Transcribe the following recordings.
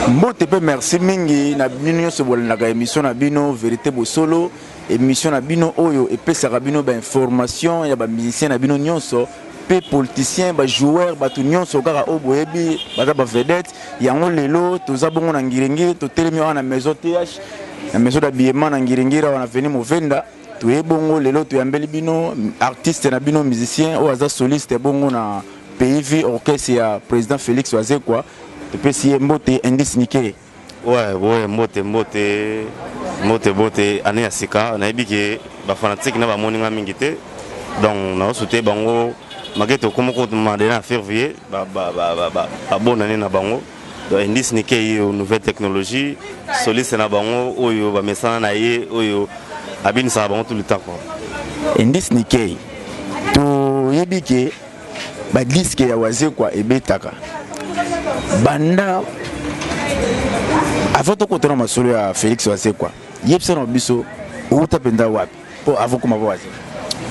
mbote mpe merci mingi na bino nyonso bolandaka émission na bino verité bosolo émission na bino oyo epesaka bino bainformation ya bamusicien na bino nyonso mpe politicien bajoueur bato nyonso kaka oyo boyebi baza bavedete yango lelo toza bongo na ngiringiri totelemi awa na maison th na maison d'habillement na ngiringiri awa na veni movenda toye bongo lelo toyambeli bino artiste na bino musicien oyo aza soliste bongo na pays vie orchestre ya président félix wazekwa topesi ye mbote indice nike ouais, ouais, mbote mbote mbote mbote année ya sika nayebi ke bafanatike na bamoni nga mingi te donc naosute bango make tokoma kotuma de na fervier babonani na bango indice nike ye nouvelle technologie soliste na bango oyo bamesana na ye oyo abinisaka bango tout le temps quoi indice nike toyebi ke badiske ya wazekwa ebetaka banda avant tokotana masolo ya félix wazekwa yebisa na biso outa mpenza wapi Po avant koma ba zero.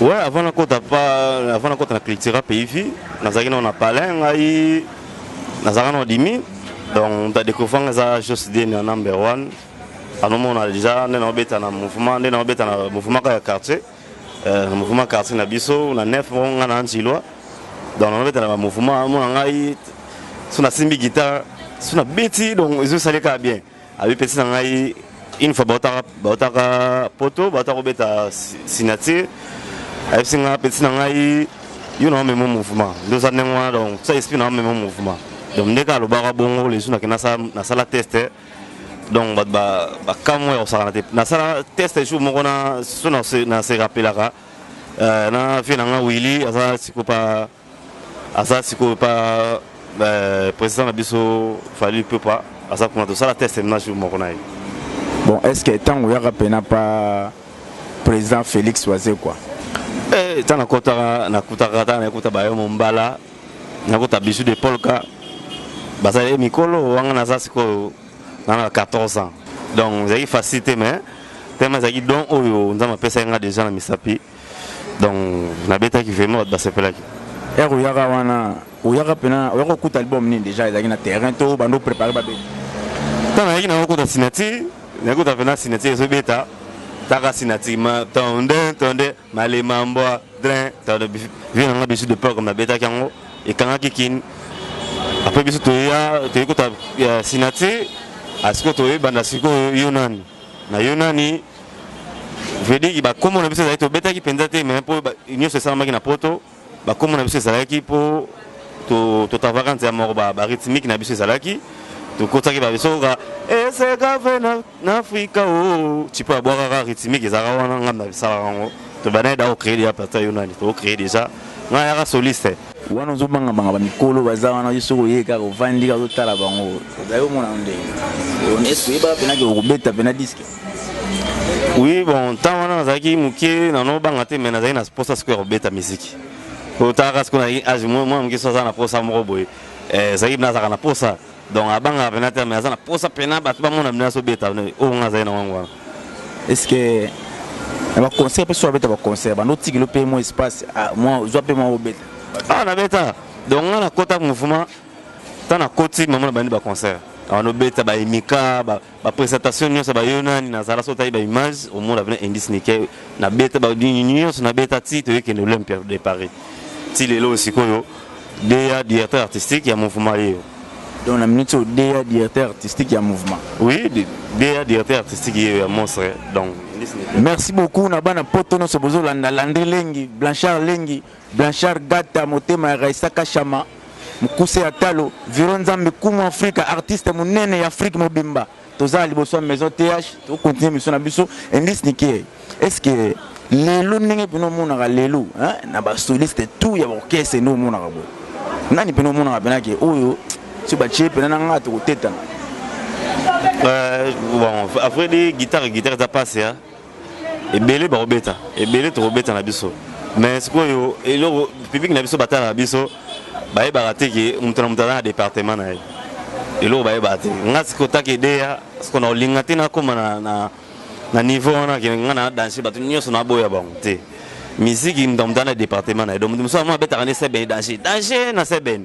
Ouais, avant na kota pa avant na kota na culture pays vie, nazaki na na palais ngai nazaka na dimi. Donc ta découvrir nga za Jos Deni en number 1. anomona deja nde naobeta na mouvement nde naobeta na mouvement kaka ya quartier euh, na mouvement quartier na biso na nef moko ngai na antiloi donc naobeta na bamouvement amona ngai so nasimbi guitare so nabeti donc ezosali kaka bien Abi pesi na ngai une fois bautaka bautaka poto bauta kobeta signature ayebisi ngai pesi na ngai yo na omema mouvement nde oza ndenge wana donc sa esprit na omema mouvement donc nde kaka alobaka bongo lesu nake nasala test donc bato bakamwa ya kosakana te nasala test jour moko na so na se rappelaka euh, na vie na ngai willi aza sikopa aza sikoyo pa euh, président na biso fali pepa aza kuna tosala test na jour moko na ye bon est ce que ntango oyaka mpena pa président félix wazekwa eh, ntango nakotaka nakutaka ntango nakuta bayo mombala nakuta bijou de polka bazali eh, mikolo wanga naza sikoyo nana 14 ans donc ezalaki facile te mais tellement ezalaki don oyo nzambe apesaki nga déjà na misapi donc nabetaki vraiment bato basepelaki ere oyaka wana oyaka mpena oyaka okuta album nini déjà ezalaki na terrain to bando préparé babeta ntango nayaki nango okuta signature nakuta mpena signature ezobeta taka signature ma tonde tonde malema mbwa drin tonde vie nanga bisu de peur comme nabetaki yango ekangaki kini apres biso toya toyekuta signature asiko toyebanda sikoyo yo nani na yo nani vediki bakombo na biso ezalaki tobetaki mpenza te me mpo nyonso esalamaki na poto bakombo na biso ezalaki mpo totavaka to nzela moko barythmique na biso ezalaki tokotaki babisokoka eseka fe na afrika o oh. tipo ya bwakaka rythmique ezalaka wana ngambi na bisalaka yango tobandaki da kocree deja pata yo nani tokocree deja ngai yaka soliste wana ozobangamanga bamikolo baza wana yo soki oye kaka ovandi kaka ozotala bango ozali omona ndenge eske oyebaka mpenaki okobeta mpena diske oui bon ntango wana nazalaki moke nano obanga te mai nazalaki na mposa sikoyo ya kobeta miziki oyo talaka sikoyo nazalaki age mwana moke so aza na mposa moko boye eh, ezalaki nazalaka na mposa donc abangaka pena te mais aza na posa pena bato bamona bino azobeta oyo nga azali na wango wana estce na baconcert mpe so abeta baconcert bando otikilo mpe mwa espace ah, zwa mpe mwa obeta awa ah, nabeta donc nga nakota mouvement ntango nakoti mama na bandi baconcert awa nobeta baemika ba presentation nyonso ba yo nani na zala sota ba image au monde avenir indice nike na beta ba dini nyonso na beta ti to yeke no l'Olympia de Paris ti lelo sikoyo DA directeur artistique ya mouvement yo donc na minute au DA directeur artistique ya mouvement oui DA directeur artistique yo ya monstre donc merci beaucoup na bana poto no so bozo landa landri lengi blanchard lengi Blanchard Gata motema ya Raissa Kashama mukuse ya talo Viro Nzambe Kumu Afrika artiste munene ya Afrique mobimba toza liboso ya maison TH to continuer mission na biso Endis Nikie est-ce que lelo ndenge pena omonaka lelo na ba soliste tout ya orchestre nde omonaka boye nani pena omonaka pena ke oyo so batie pena na ngai tokotetana euh, bon, après guitare guitare eza pasi hein? ebele bakobeta ebele tokobeta na biso mais sikoyo eloko public na biso batalaka biso bayebaka te ke moto na moto aza na département na ye eloko bayebaka te nga sikoyo taka edeya sikoyo na kolinga te nakóma na, na, na niveau wana ke nga na danse bato nyonso naboya bango te miziki moto na moto aza na département na ye donc moto mosusu yango abetaka nde sebene danse danse na sebene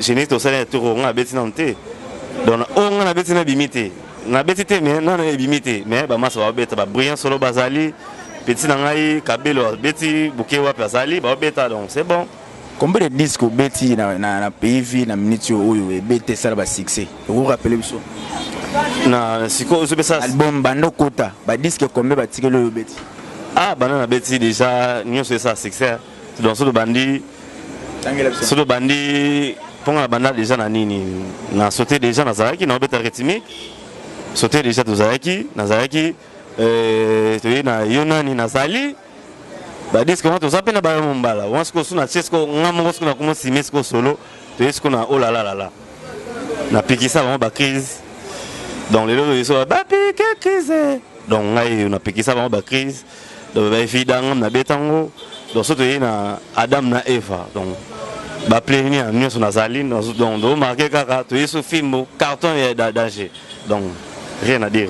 Genèse tosali na tour nga abeti nanu te donc oyo nga nabeti nabimi te nabeti te mais nanu ebimi te mais bamasa babeta babrillant solo bazali petit na ngai kabelo abeti buke wapi azali babeta donc c'est bon combien de disque obeti na, na, na pays vie na minute oyo ebeti esala basuccès okorapele biso na sikoyo ozopesa album banda okota badisque combien batikeli oyo obeti ah banda nabeti déjà nyonso esala succès donc soki tobandi soki tobandi mpo nga nabanda deja na nini na saute deja nazalaki na obeta rythmique saute deja tozalaki nazalaki euh, toyei na yo nani nazali badiske wana toza mpe na bayo mombala wana sikoyo so natie sikoyo nga moko sikoyo nakoma sime sikoyo solo toyei sikoyo na olalalala oh napikisa bango bacrise donc lelo toyei sikoyo bapike crise donc ngai napikisa bango bacrise donc ba evida ngam na beta ngo donc soto ye na Adam na Eva donc ba plenière nionso nazali donc do marquer kaka to yeso film carton ya danger donc rien à dire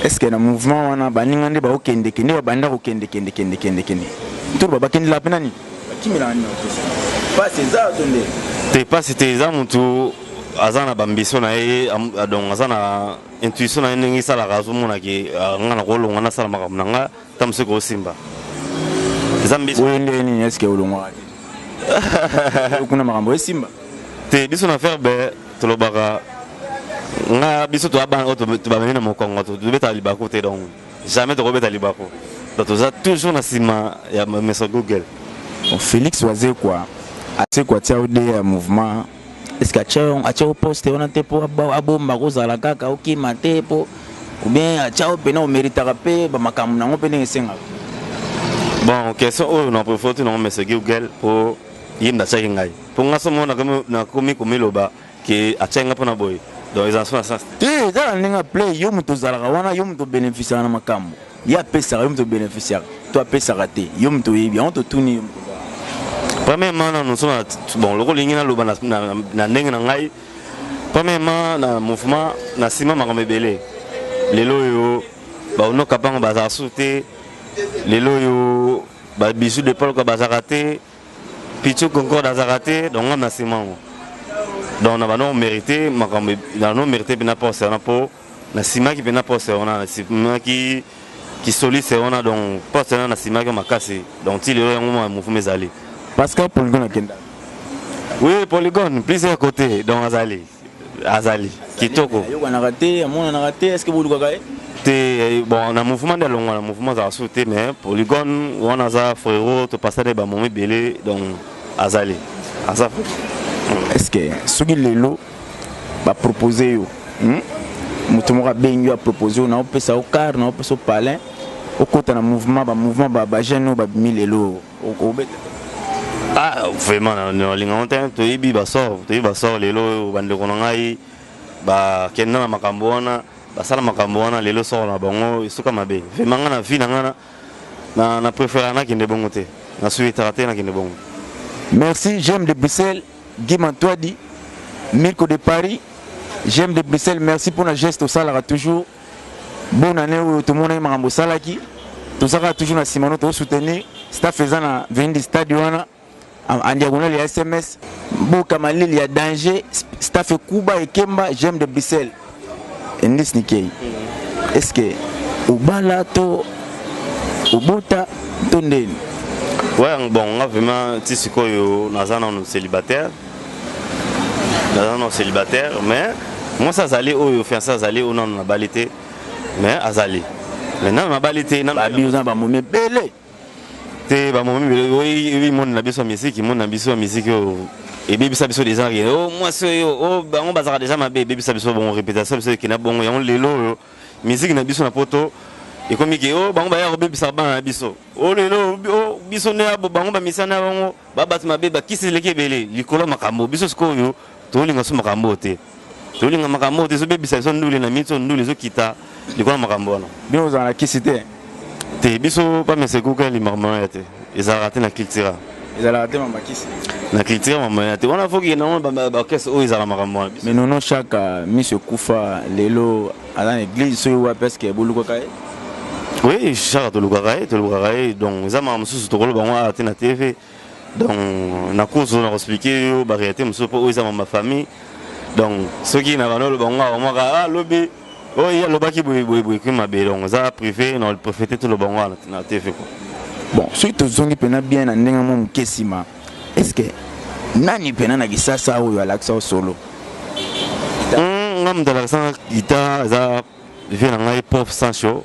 est-ce que na mouvement wana baninga nde baokende kende babanda kokende kende kende kende kende toro babakendela mpe nani bakimela nani pasi eza to nde te pasi te eza motu aza na bambiso na ye donc aza na intuition na ye ndenge esalaka azomona ke ah, nga na kolonga nasala makambo na nga ta mosuki osimba eza mbisi oyo ndenge nini eske olongwaka te kuna makambo esimba te biso na ferbe tolobaka nga biso toya bana oyo tobamemi na mokongo tobetaka libaku te donc jamais tokobeta libaku donc toza toujours na nsima ya meso google felix wazekwa asekwa tia ode ya mouvement eske atya poste wana te mpo abomba kozala kaka okima te mpo obien atya yo mpena omeritaka mpe bamakambo nango mpe ndenge esengaka bon question oyo na profoti nango mese gilgel mpo ye nde atyaki ngai mpo ngai so moko nakomi komiloba ke atyaki ngai mpo na boye donc ezala so na sens te tala ndenge aple yo moto ozalaka wana yo moto obenefisiaka na makambo ye apesaka yo moto beneficiaka to apesaka te yo moto oyebi yango totuni premièrement nanu so bon lokola olingi naloba na ndenge na ngai premièrement na mouvement na nsima makambo ebele lelo oyo baonoka mpango bazala susu te lelo oyo babisu de polka bazalaka te pichu concorde azalaka te donc ngai na nsima yango donc na bano mérité makambo na no mérité mpe na poste wana mpo nasimaki mpena poste wana nasimaki kisoliste wana donc poste wana nasimaki makasi donc ti lelo yango mouvuma ezali pascal polygone akenda oui polygone plusieurs côté donc azali azali kitoko ayokanaka te amonanaka te est ce que bolukaka ye te bon na mouvement nde alongwa na mouvement azala susu te mais polygone wana aza frero topasa nde bamomo ebele donc azali aza est ce que soki lelo ba proposer yo hmm? moto moko abengi yo apropose yo na opesa yo car na opesa yo palin okota na mouvement bamouvement bajeune oyo babimi lelo obeta ah vraiment nalingango te toyebi basor toyebi basor lelo oyo bandeko na ngai bakenda na makambo wana basala makambo wana lelo soko na bango esuka mabe vraimen ngai na vi na ngai na préférera nakende bongo te nasuetaka te nakende bongo merci j'aime de bruxelles Guy Mantuadi, Mirko de Paris, J'aime de Bruxelles, merci pour la geste au salara toujours. Bonne année au tout le monde makambo salaki. Tout ça toujours na Simano to soutenir staff faisant na venir du stade wana en diagonale ya SMS. Boka malili ya danger, staff Kuba et Kemba, j'aime de Bruxelles. endis nikei est ce que obala to obota to ndeni ouais bon nga vraiment ti sikoyo naza nano célibataire naza nano célibataire mais mwasi azali oyo fiance azali oyo nano nabali te mais azali mais nano nabali te abi oza na bamomi ebele te ba momi bele oui oui monde na biso musique monde na biso musique oh. et bibi ça biso déjà rien oh moi ce yo oh, oh bango bazaka déjà ma bébé bibi ça biso bon réputation biso qui na bongo yango lelo oh. musique na biso na poto et comme que oh bango ba ya bibi ça ba na biso oh lelo oh biso ne abo bango ba misana bango ba bat ma bébé qui se leke belé likolo makambo biso sikoyo to linga suma kambo te tolinga makambo oyo te ezobebisa biso ndule na miso ndule ezokita likolo ya makambo wana bino ozala na kisi te te biso pamesekuka limakambo ya te ezalaka te na cultura ezalaka te mambakisi na culture mamaya te wana foki nango baorchestre oyo ezala makambo wana mais nono chaka miso ekufa lelo aza na église soki wapi eske bolukaka ye oui chaka tolukaka ye tolukaka ye donc eza makambo mosusu tokoloba yango awa te na tv donc nakozo na koexplike yo barealité mosusu mpo oyo eza mama famille donc soki na bana oloba ngo akomaka a ah, lobi oyo oh, ye alobaki boyeboyeboye kui mabe donc eza privé na profete toloba ngo na tv ko bon soki tozongi mpena bien na ndenge mwa moke nsima est ce que nani mpena na kisasa oyo alakisa yo solo hmm, nga moto alakisanga guitare eza vie na ngai prof sancho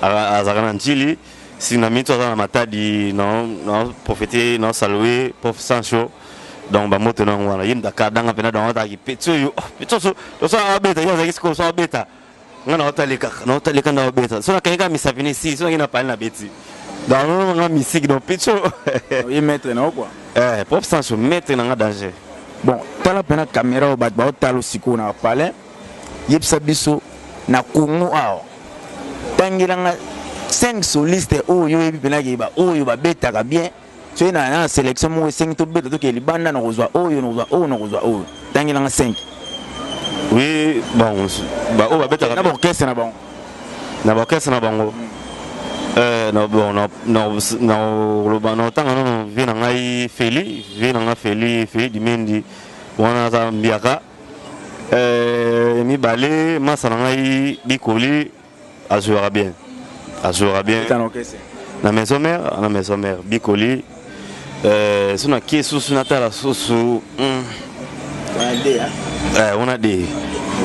azalaka na ntili si na mito aza na matadi na na profete na salue prof sancho donc bamoto nango wana ye mdaka danga mpena donc ataki peti oyo oh, peti oso tosala abeta ye azalaki sikoyo so abeta nga na otali kaka na otali kaka na obeta so nakangi kaka misapi na esili so nangi na pali na beti donc nongo nga misiki donc peti oyo ye maître na yo quoi eh prof sancho maître na nga danger bon tala mpena caméra oyo bato baotala osikoyo na palais yebisa biso na congo awa tangelanga 5 soliste oyo yo oyebi mpena ke baoyo babetaka bien soki na na selection moko esengi tobeta tokee libanda na kozwa oyo na kozwa oyo na kozwa oyo tangelanga 5 oui bon baoyo babetaka na baorchestre na bango na baorchestre na bango eh, nakoloba na otanga nono vie na ngai feli vie na ngai feli feli dimendi wana aza mbiaka Eh, mibale masa na ngai bikoli azwaka bien azwaka bien na maison mère na maison mère bikoli eh, so nakie susu natala susu hmm. eh, wana de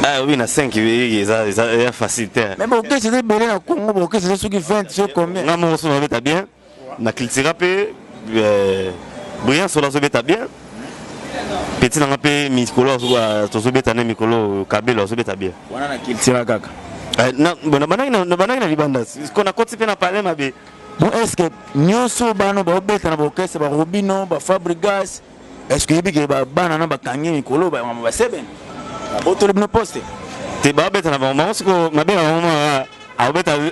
ah oui, na 5 oui, ça ça facile. Mais bon, qu'est-ce que c'est belé na Congo, bon, qu'est-ce que c'est ce qui fait ce combien? Non, mon son on est bien. na cultura mpe euh, brillant solo azobeta bien peti nanga mpe mikolo euh, tozobeta nde mikolo kabelo azobeta bien wana na cultura kaka euh, nabanaki na libanda ko nakoti mpe na palais mabe bon est ce que nyonso bano baobeta na baorchestre barobino bafabrigas est ce que oyebi ke bana na bakangi mikolo bayamama basebene abotoli bino poste te babeta na bango bango siko mabe na bango maa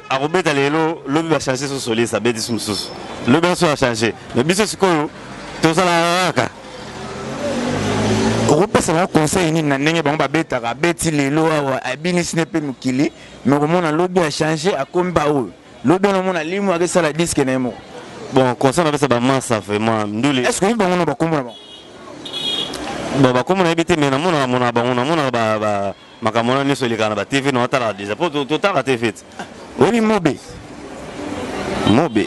akobeta lelo lobi bachange so soliste abeti so mosusu lobi yanso achange me biso sikoyo tozalaka kaka okopesa bango conseil nini na ndenge bango babetaka abeti lelo awa abinisi ne mpe mokili me okomona lobi achange akomi baoyo Lobi na mona limu ake sala disque na yemo. Bon, concert na pesa ba massa vraiment ndule. Est-ce que bango na ba kombo na bango? Bon, ba kombo na yebite mais na mona na mona bango na mona ba ba makambo na nyoso leka na ba TV na tala déjà. Po to tala TV. Oyebi mobe. Mobe.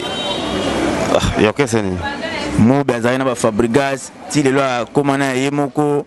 Ah, yokeseni. Mobe azali na ba Fabrigas, ti lelo akoma na ye moko.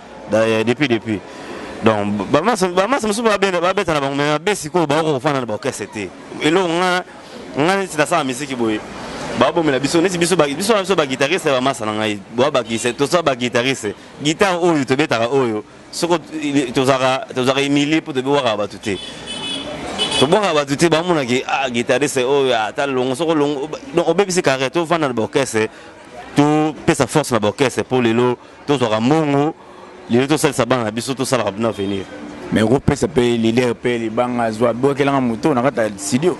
eh, depuis depuis donc bamasa mosusu babeta na bango me mabe sikoyo baoka kofanda na baorchestre te eloko nga nga neti nasala misiki boye babomela biso neti biso biso biso baguitariste ya bamasa na ngai boa bakise toza baguitariste guitare oyo tobetaka oyo soko tozalaka humilie mpo tobewaka bato te tobwaka bato te bamonaki ah, guitariste oyo ah, ata longo soko longo obebisi carrière tofanda na baorchestre topesa force na baorchestre mpo lelo tozwaka mbongo lelo tosalisa bana na biso tosalaka bino avenir mais kopesa mpe leader mpe libanga azwa bokelanga moto na kati ya studio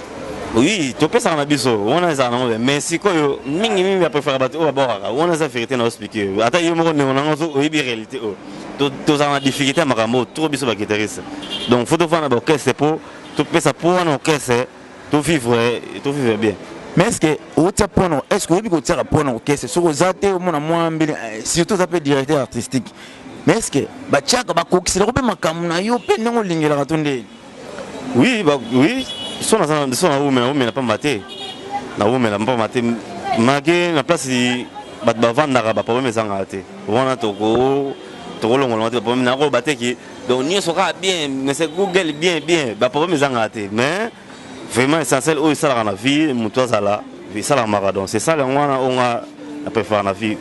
oui topesaka na biso wana ezala nango mais sikoyo mingi mingi bapréfère bato oyo babokaka wana eza vérité na oexplike ata yo moko ndeko na ngo oyebi réalité oyo oh. tozala na difficulté ya makambo oyo trop biso baguitariste donc fo tofanda baorchestre mpo topesa mpo wana orchestre To vivre, to vivre bien. Mais est-ce que otia point no, est-ce que oyebi ko tiaka point no kese soko za te omona mwa mbele eh, surtout za pe directeur artistique. Mais est-ce que ba tiaka ba kokisela ko pe makambo na yo pe ndenge olingelaka to nde? Oui, ba oui, so na za so na umela umela pamba te. Na umela pamba te. Mage na place bato bavandaka baproblème ezangaka te wana tokolongola te baproblème nako bateki donc nyonso kaka bien mais google bien bien ba problème ezangaka te mais vraiment essentiel oyo esalaka na vie moto azala esalamaka donc c'est ça yango wana oyo nga na préfère na vie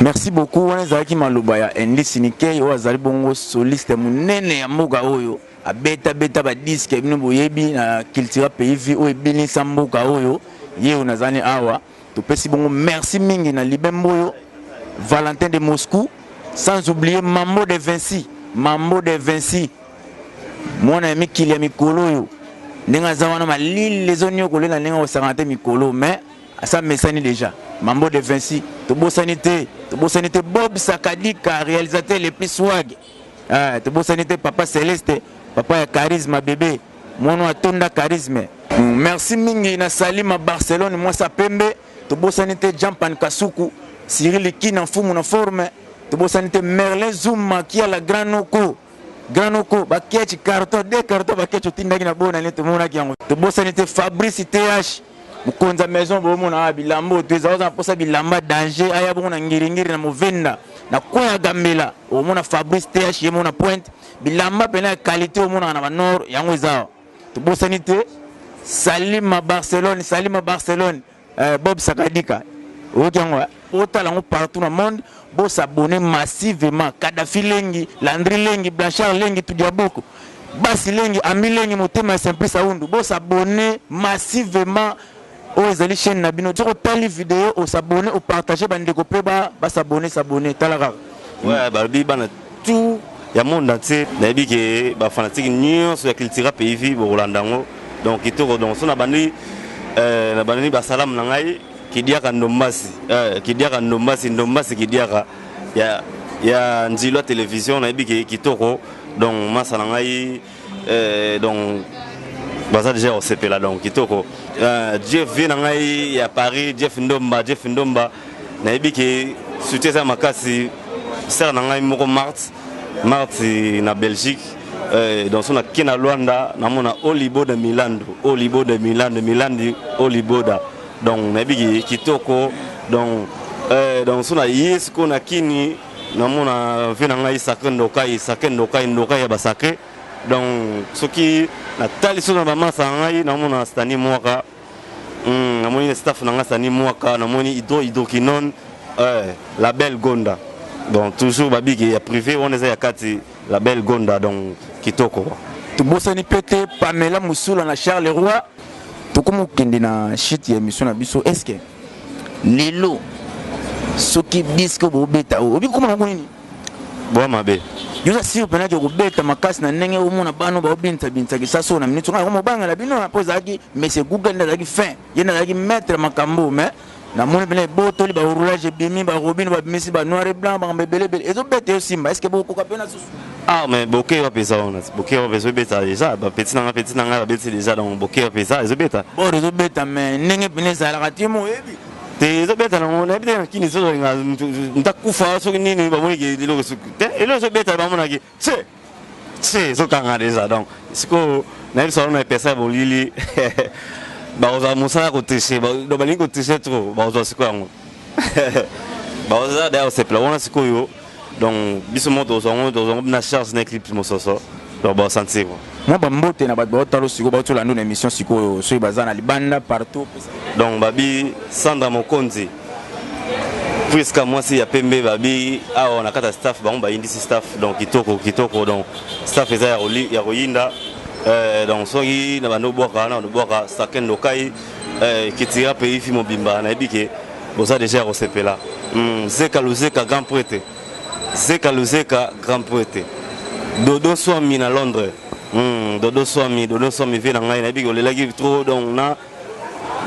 merci beaucoup wana ezalaki maloba ya endi sinikei oyo azali bongo soliste monene ya mboka oyo abeta beta badiske bino boyebi na cultura pays vie oyo ebinisa mboka oyo ye oyo nazali awa Topesi bongo merci mingi na Libembo oyo, Valentin de Moscou, sans oublier Mambo de Vinci, Mambo de Vinci, mwana ya mikili ya mikolo oyo ndenge aza wana malili ezoniokolela ndenge akosakana te mikolo mais asa mesani déjà mambo de vinci tobosani te tobosani te bob sakadika réalisateur le plus swag ah, tobosani te papa celeste papa ya charisme bebe Mwana atonda charisme. Merci mingi na Salima Barcelone mwasi ya pembe. Tobosani te Jampan Kasuku, Cyril Kina mfumu na forme. Tobosani te Merlin Zuma kia la grand noko. Grand noko ba kechi carton de carton ba kechi otindaki na bona ne tomonaki yango. Tobosani te Fabrice TH mokonzi ya maison bomona ah, bilamba oyo toeza oza na mposa bilamba danger aya bongo na ngiringiri na movenda na kweya gambela omona fabrice th ye mona pointe Bilamba pena ya qualité omonaka na ba nord yango eza awa. Tobosani te Salima Barcelone, Salima Barcelone, euh, Bob Sakadika. Oyoki yango eh? Otala yango partout na monde, bo s'abonner massivement. Kadhafi Lengi, Landry Lengi, Blanchard Lengi, Tudiabuku. Basi Lengi, Ami Lengi, Motema Simplice Aundu. Bo s'abonner massivement Oyo ezali chaine na bino soki otali video o s'abonner o partager ba ndeko pe ba ba s'abonner s'abonner tala kaka. Ouais balobi bana tout ya monde entier nayebi ke ba fanatique nyonso ya cultura pays vie bokolanda yango donc kitoko donc so nabandi euh, nabandi basalamu na ngai kidiaka ndombasi euh, kidiaka ndombasi ndombasi kidiaka ya ya nzilwa television nayebi ke kitoko donc masa na ngai eh, donc baza deja kosepela donc kitoko euh, jeff vie na ngai ya paris jeff ndomba jeff ndomba nayebi ke suti eza makasi sere na ngai moko marte marte na belgique euh, donc so nake na luanda namona oliboda milando oliboda milando milandi oliboda donc nayebi kitoko donc euh, donc so na ye sikoyo na kini namona vie na ngai sacre ndokai sacre ndokai ndokai ya basacre donc soki natali so na bamasa na ngai namona stani mwaka mm, namoni staff na ngai stani mwaka namoni hydro hydrokinone eh, la belle gonda donc toujours babiki ya privé wana eza ya kati la belle gonda donc kitoko tobosani mpe te pamela mosula na charles roi tokomi kokende na shite ya émission na biso eske lelo soki disque obobeta oyo obi koma nango nini bwa mabe yo oza sire mpena ke kobeta makasi na ndenge omona bano baobinisa binisa kisasi oyo na minute nga komobangela bino mpo ezalaki mese google nde azalaki fin ye nde azalaki maître makambo mais namoni mpena ebotoli baroulage ebimi barobine babimisi banoir et blanc makambo ebele ebele ezobeta yo simba eske bokokoka mpena Ah mais bokei wapi eza wana bokei wapi ezobeta deja bapeti na nga peti na ngai babeti deja donc bokei wapi eza ezobeta bor ezobeta mais ndenge mpena ezalaka te mo oyebi te ezobeta nango nayebi te na kini ezozolinga ntakufa soki nini bamoniki eloko soki te eloko ezobeta bamonaki se se ezokanga deja donc sikoyo nayebisa wana epesa ya bolili bakozala mosala ya kotriche donc balingi kotriche trop bakozwa sikoyo yango bakozala daya kosepela wana sikoyo donc biso moko tozwa yango tozwa yango na charge na eclipse mososo donc baosantir mwa bambote na bato baotalo sikoyo baotolanda na émission sikoyo soki baza na libanda partout donc babi sandra mokonzi priska mwasi ya pembe babi awa na kati ya staff bango bayindisi staff donc kitoko kitoko donc staff eza ya koyinda euh, donc soki na bando bwaka na bando bwaka saken lokai euh, kitira pays fi mobimba nayebi ke boza deja ya kosepela mm, zeka luzeka grand prete zeka luzeka grand prete dodo swami na londres mm, dodo swami dodo swami vie na ngai nayebi olelaki trop donc na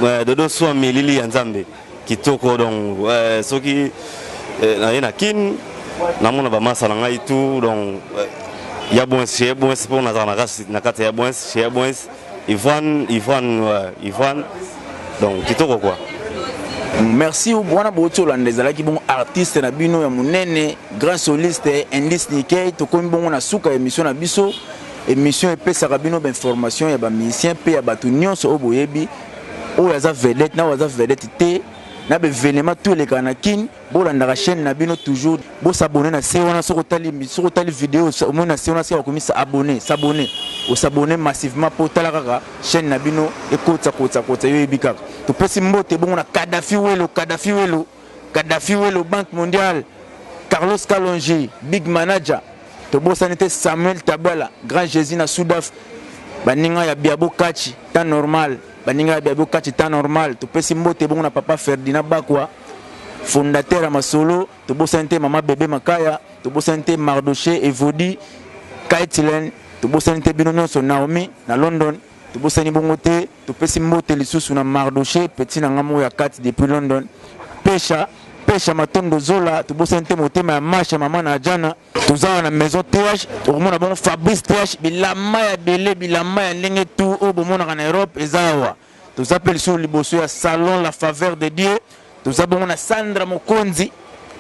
euh, dodo swami lili ya nzambe kitoko donc euh, soki euh, naye na kin namona bamasa na ngai tout donc euh, ya bwens chez ya bwens mpo nazala na kati ya bwens chez ya bwens Ivan, Ivan, ouais, Ivan. Donc, kitoko quoi. Merci wana boti olanda ezalaki bongo artiste na bino ya monene grand soliste indice nikei tokomi bongo na suka ya émission na biso émission epesaka bino bainformation ya bamusicien mpe ya bato nyonso oyo boyebi oyo aza vedette na oyo aza vedette te na baevenema to elekaka na kine bolandaka chaîne na bino toujours bo s'abonner na se wana soki otali soki otali video omoni na se wana sika bakomisa abonner s'abonner o s'abonner massivement mpo otala kaka chaîne na bino ekotisa kotisa kotisa yo oyebi kaka topesi mbote bongo na Kadhafi Welo Kadhafi Welo Kadhafi Welo Banque mondiale Carlos Kalonji big manager tobosani te Samuel Tabala grand Jésus na Sudaf baninga ya Biabo Kachi temps normal baninga ya Biabo Kachi temps normal topesi mbote bongo na papa Ferdinand Bakwa fondateur ya masolo tobosani te mama bebe makaya tobosani te mardoche evodi kaitilen tobosani te bino nyonso naomi na london tobosani bongo te topesi mbote lisusu na mardoche peti na ngambo ya kati depuis london pesha pesha matondo zola tobosani te motema ya masha mama na ajana toza wana maison th okomona bongo fabrice th bilamba ya bele bilamba ya ndenge tu oyo bomonaka na europe eza awa toza pe lisusu liboso ya salon la faveur de Dieu toza bongo na Sandra Mokonzi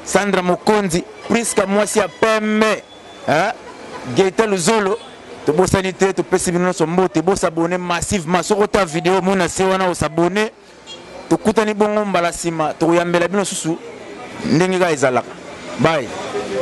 Sandra Mokonzi Prisca mwasi ya pembe hein Geta Luzolo tobosani te topesi bino nyonso mbote bosabone massivement soki ota video mona se wana osabone tokutani bongo mbala nsima tokoyambela bino susu ndenge kaka ezalaka bai